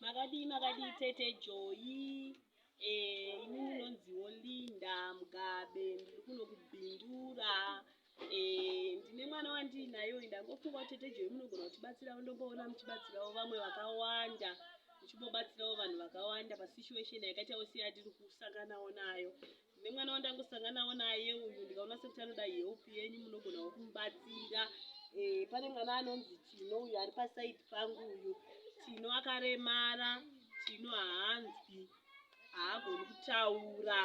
makadii makadii tete joyi eh, ini ndinonziwo linda mugabe ndiri kuno kubindura eh, ndine mwana wandiinayo ndangofunga tete joyi munogona kutibatsirawo ndomboona muchibatsirawo vamwe vakawanda muchimbobatsirawo vanhu vakawanda pasituation yakaita yose yatiri kusanganawo nayo nemwana wandangosanganawo naye uyu ndikaona sekuti anoda help yenyu munogonawo kumubatsira eh, pane mwana anonzi tino uyu ari pasaidi pangu uyu tino akaremara tino haanzwi haagoni kutaura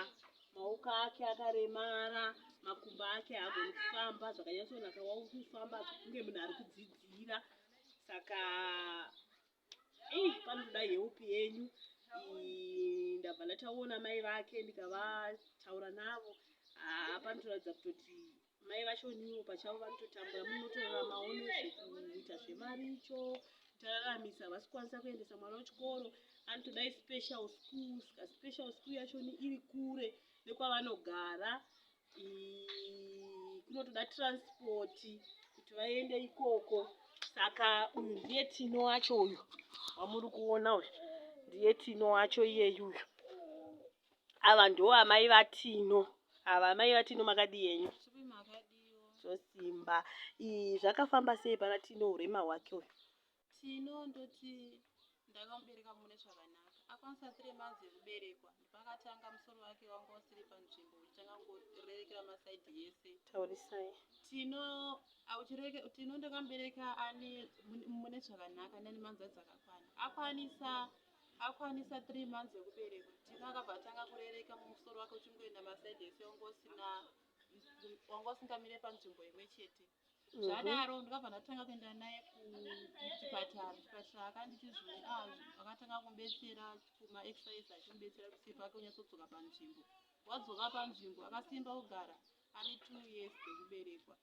maoko ake akaremara makumbo ake haagoni kufamba zvakanyatsonaka wauri kufamba kunge munhu ari kudzidzira saka Hey, panoda help yenyu ndabva ndataona mai vake ndikavataura navo haa panotoratidza kutoti mai vacho niwo pachavo vanototambura munotorora maono zvekuita zvemaricho kutararamisa havasi kukwanisa kuendesa mwana wechikoro anotodai special school ska special school yacho iri kure nekwavanogara kunotoda transport kuti vaende ikoko saka uyu ndiye tino wacho uyu wamuri kuona uyu ndiye tino wacho iyeyu uyu ava ndo amai vatino ava amai vatino makadii henyu zvosimba zvakafamba sei pana tino urema hwake uyu Tino ndoti ndakamubereka mune zvakanaka akwanisa three months yekuberekwa ndipakatanga musoro wake wanga usiri panzvimbo uchitanga kungorerekera masaidi yese taurisai tino auchireke tino ndakamubereka ani mune zvakanaka nani manzadzi akakwana akwanisa akwanisa three months yekuberekwa tino akabva atanga kurereka mumusoro wake uchingoenda masaidi yese wanga usina wanga usingamire panzvimbo imwe chete zvadaro mhm. ndikabva ndatanga kuenda naye kuchipatara chipatara akanditi zvimwe ah, akatanga kumbetsera kumaexercise achimbetsera kuti sipo ake unyatsodzoka panzvimbo wadzoka panzvimbo akasimba kugara ane two years dzekuberekwa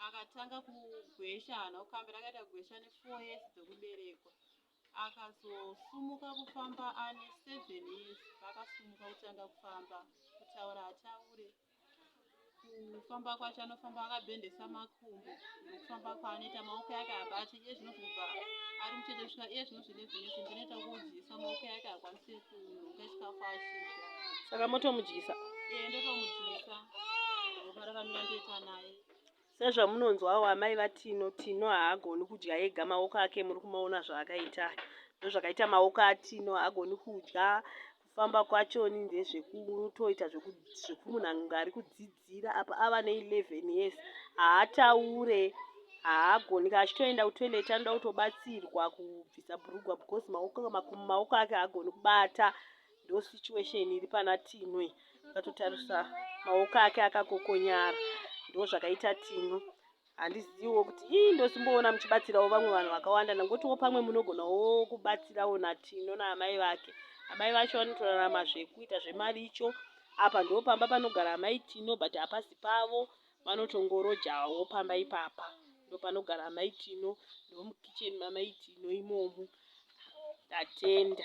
akatanga kugwesha hana kukambira akaita kugwesha nefour years dzekuberekwa Akazosumuka kufamba ane seven years paakasumuka kutanga kufamba kutaura hataure kufamba kwacho anofamba akabendesa makumbo nekufamba kwaanoita maoko yake abati iye zvino zvobva ari mucheche svika iye zvino zvine vinese ndinoita kuudyisa maoko yake akwanise kunoka chikafu achidya saka motomudyisa ee ndotomudyisa ropa rakamira ndoita naye Sezvamunonzwawo amai vaTino, Tino haagoni kudya ega maoko ake muri kumaona zvaakaita aya. Ndozvakaita maoko aTino haagoni kudya kufamba kwachoni ndezvekutoita zvekumunhu ange ari kudzidzira apa ava ne 11 years haataure haagoni ka achitoenda kutoilet anoda kutobatsirwa kubvisa bhurugwa because maoko maoko ake haagoni kubata Ndo situation iri pana Tino iyi. Ukatotarisa maoko ake akakokonyara. Ndo zvakaita Tino. Handiziwo kuti ii ndosimboona muchibatsirawo vamwe vanhu vakawanda ndangotiwo pamwe munogonawo kubatsirawo naTino naamai vake. Amai vacho vanotorarama zvekuita zvemaricho. Apa ndo pamba panogara amai Tino but hapasi pavo. Vanotongorojawo pamba ipapa. Ndo panogara amai Tino. Ndo mukitchen mamai Tino imomo. Ndatenda.